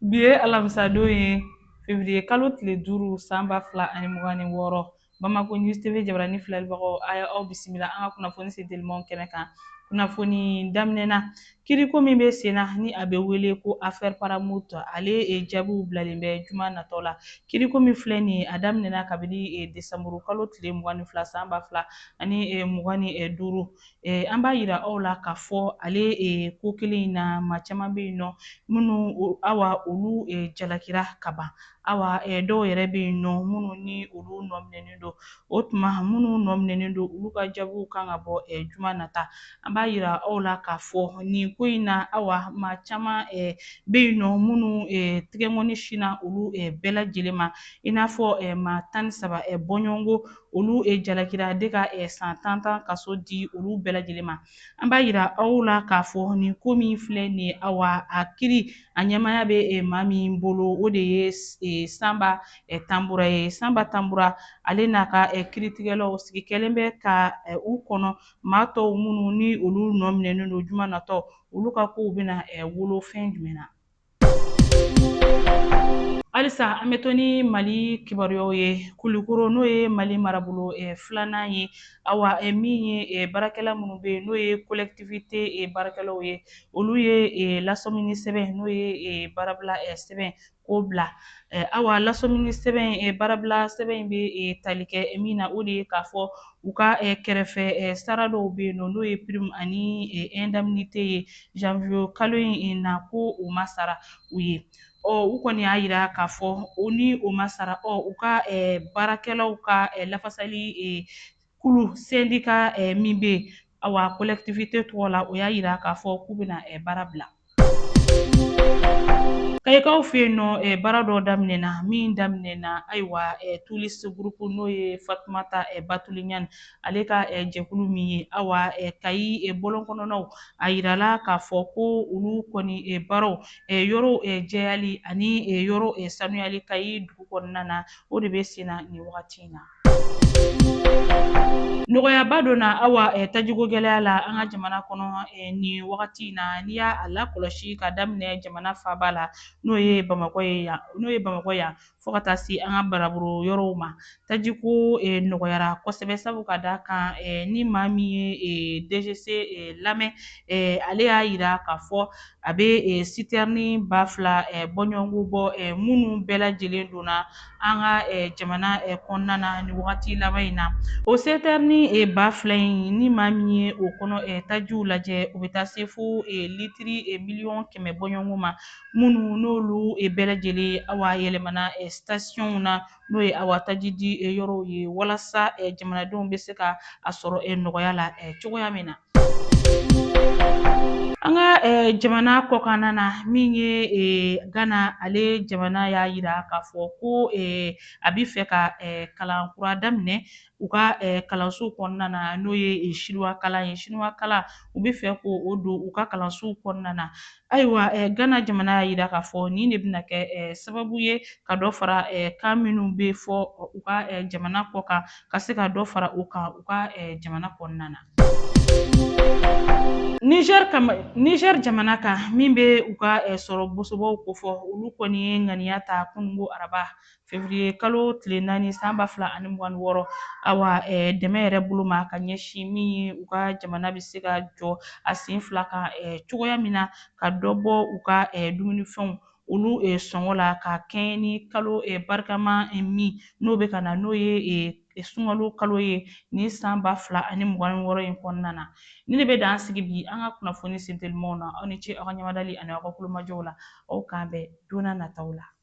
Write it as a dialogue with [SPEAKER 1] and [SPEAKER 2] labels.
[SPEAKER 1] Bi ye alamisadon ye fevriye kalo tile duuru san ba fila ani mugan ni wɔɔrɔ Bamako News TV jabarani filɛlibagaw a ye aw bisimila an ka kunnafoni sen telimanw kɛnɛ kan. Kunnafoni daminɛ na, kiiriko min bɛ sen na ni a bɛ wele ko affaire Paramount ale jaabiw bilalen bɛ juma natɔ la. Kiiriko min filɛ nin ye, a daminɛna kabini desanburukalo tile mugan ni fila san ba fila ani mugan ni duuru. Eh, an b'a yira aw la k'a fɔ ale eh, ko kelen in na maa caman bɛ yen nɔ minnu awa olu eh, jalakira ka ban awa eh, dɔw yɛrɛ bɛ yen nɔ minnu ni olu nɔminɛnen don o tuma minnu nɔminɛnen don olu ka jaabiw kan ka bɔ eh, juma nata an b'a yira aw la k'a fɔ nin ko in na awa maa caman eh, bɛ yen nɔ minnu eh, tigɛnkɔni sinna olu eh, bɛɛ lajɛlen ma i n'a fɔ eh, maa tan ni saba eh, bɔɲɔgɔnko olu e jalakira de ka e, san tan tan kaso di olu bɛɛ lajɛlen ma an b'a yira aw la k'a fɔ nin ko min filɛ nin ye awa a kiri a ɲɛmaya bɛ e, maa min bolo o de ye e, sanba tanbura ye sanba tanbura ale n'a ka kiritigɛlaw sigi kɛlen bɛ ka u kɔnɔ maa tɔw minnu ni olu nɔminɛnen don juma natɔ olu ka kow bɛna wolo fɛn jumɛn na halisa an bɛ to ni mali kibaruyaw ye kulikɔrɔ n'o ye mali marabolo filanan ye awa min ye baarakɛla minnu bɛ yen n'o ye kolɛkitiwite baarakɛlaw ye olu ye lasɔmini sɛbɛn n'o ye baarabila sɛbɛn k'o bila awa lasɔmini sɛbɛn baarabila sɛbɛn in bɛ tali kɛ min na o de ye k'a fɔ U ka eh, kɛrɛfɛ eh, sara dɔw bɛ yen nɔ n'o ye prime ani eh, indemnité ye janvier kalo in na ko o ma sara u ye ɔ u kɔni y'a yira k'a fɔ o ni o ma sara ɔ u ka baarakɛlaw ka lafasali kulu sendika min bɛ yen Awa kolɛkitiwite tɔgɔ la o y'a yira k'a fɔ k'u bɛna eh, baara bila kayikaw fɛ yen nɔ eh, baara dɔ daminɛna min daminɛna ayiwa eh, tulisi gurupu n'o ye fatumata batuli ɲani ale ka jɛkulu min ye awa kayi bɔlɔn kɔnɔnaw a yirala k'a fɔ ko olu kɔni baaraw yɔrɔw jɛyali ani yɔrɔ sanuyali kayi dugu kɔnɔna na o de bɛ sen na nin wagati in na Nɔgɔyaba donna awa tajiko gɛlɛya la an ka jamana kɔnɔ nin wagati in na n'i y'a lakɔlɔsi ka daminɛ jamana faaba la n'o ye bamakɔ ye yan n'o ye bamakɔ yan fo ka taa se an ka marabolo yɔrɔw ma tajiko nɔgɔyara kosɛbɛ sabu ka d'a kan ni maa min ye DGCC lamɛn ale y'a yira k'a fɔ A bɛ eh, sitɛrni ba fila eh, bɔɲɔgɔnko bɔ eh, minnu bɛɛ lajɛlen donna an ka eh, jamana eh, kɔnɔna na nin wagati laban in na o sitɛrni eh, ba fila in n'i maa min ye o kɔnɔ eh, tajiw lajɛ o bɛ taa se fo eh, litiri eh, miliyɔn kɛmɛ bɔɲɔgɔnko ma minnu n'olu eh, bɛɛ lajɛlen awa yɛlɛmana eh, sitasiɔnw na n'o ye awa taji di yɔrɔw ye walasa jamanadenw bɛ se ka a sɔrɔ nɔgɔya la cogoya min na an ka jamana kɔkanna na min ye gana ale jamana y'a yira k'a fɔ ko a bɛ fɛ ka kalan kura daminɛ u ka kalansow kɔnɔna na n'o ye sinuwa kalan ye sinuwa kalan u bɛ fɛ k'o don u ka kalansow kɔnɔna na ayiwa gana jamana y'a yira k'a fɔ nin de bɛna kɛ sababu ye ka dɔ fara kan minnu bɛ fɔ u ka jamana kɔkan ka se ka dɔ fara u kan u ka jamana kɔnɔna na nizɛri jamana kan min bɛ u ka sɔrɔ bosobaw kofɔ olu kɔni ye ŋaniya ta kununko araba fevriye kalo tile naani san ba fila ani mugan ni wɔɔrɔ awa dɛmɛ yɛrɛ bolo ma ka ɲɛsin min ye u ka jamana bɛ se ka jɔ a sen fila kan cogoya min na ka dɔ bɔ u ka dumunifɛnw olu sɔngɔ la ka kɛɲɛ ni kalo barikama min n'o bɛ ka na n'o ye sunkalo kalo ye nin san ba fila ani mugan ni wɔɔrɔ in kɔnɔna na nin de bɛ dan sigi bi an ka kunnafoni sentelimaw na aw ni ce aw ka ɲamadali ani aw ka kulomajɔw la awa k'an bɛn don nataw la